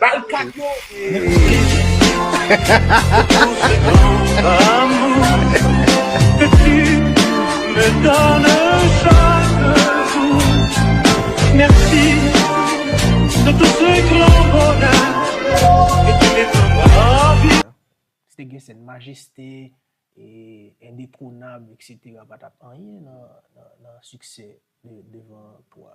Bal kat yo men pou kisa. Si te gen sèn majeste e endetronab etc pa tap anyen nan siksè devan pwa.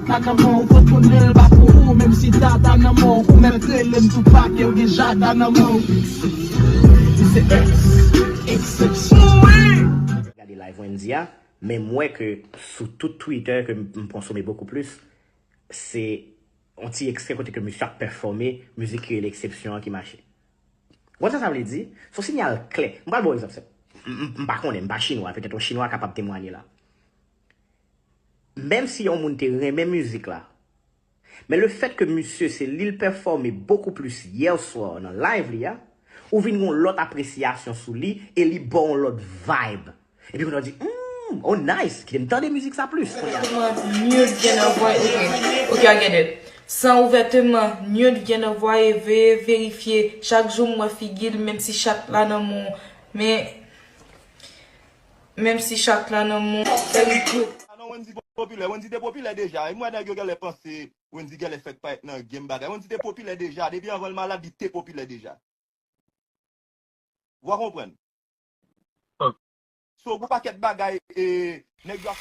Kaka mò ou pot konn rel ba pou ou menm si dada nan mò ou mèt relem tou pakew gen jada nan men w Li se ex exception wi. gade live Wendy a men m wè ke sou tout Twitter ke m konsome bokou plis se yon ti ekstrè kote ke misye ap pèfòme mizik ki rele exception an ki mache. Ou konn sa sa vle di? Se yon sinyal klè. M pral ba w egzanp senp. M pa konnen, m pa chinwa, petèt yon chinwa kapab temwanye la. Menm si yon moun te renmen mizik la, men le fèt ke misye se lil pèfòme bokou plis hier soir nan live li a, ou vin gon lòt apresyasyon sou li e li baw yon lòt vibe. Epi kounya ou di humm oh nice kitem tande mizik sa plis kounya. San ouvèteman nude vient nan vwaye veye verifye chak jou m wè figil menm si chat la nan men w men. Menm si chat la nan moun sèl gou. Ah non Wendy pa popilè, Wendy te popilè deja, e m wè nèg yo genlè panse Wendy genlè fèk parèt nan game bagay, Wendy te popilè deja, depi anvan l malad li te popilè deja. Wa konprann. So gon pakèt bagay e nèg yo ap.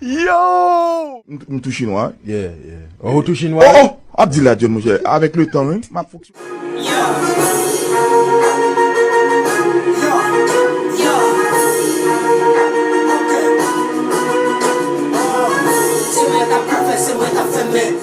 Yow! M tou chinwa wi. Yeah yeah. Oh ou tou chinwa wi. Oh oh! Ap di la John monchè. Avèk le tan wi. Map fok.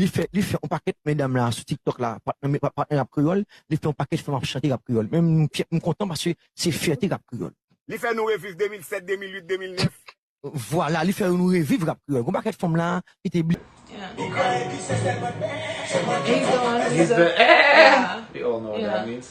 li fè li fè yon pakèt medam la sou tiktok la pat nan pat nan rap kreyòl li fè yon pakèt fanm ap chante rap kreyòl men m fyè m kontan paske se fyète rap kreyòl. Li fè nou reviv 2007 2008 2009. Vwala li fè nou reviv rap kreyòl gon pakèt fanm la ki te bliye. Li kraye pi se sèl mwen pè. Se mwen ki fè yo pè se sèl mwen.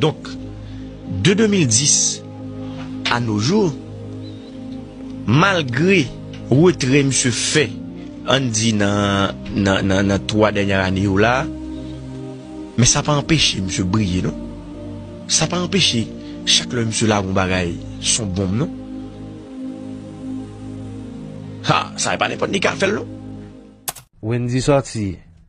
Donk, de 2010 a no jou, malgre retrè misye fè, ann di nan 3 dènyè ane yo la, men sa pa anpeche misye briye non. Sa pa anpeche chak lè misye lage yon bagay, s on bonm non. Ha! Sa e pa nenpòt li k a fè l non. Wendy sòti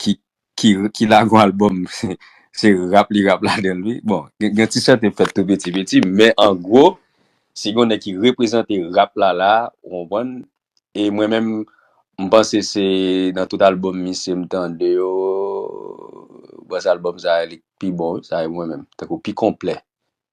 ki ki ki lagon album se rap li rap ladanl wi bon gen gen ti chante m fèt tou piti piti men an gwo si gon nèg ki reprezante rap la la ou konprann e mwen menm m panse se nan tout album misye m tande yo bon se album sa li k pi bon wi sa e mwen menm tankou pi konplè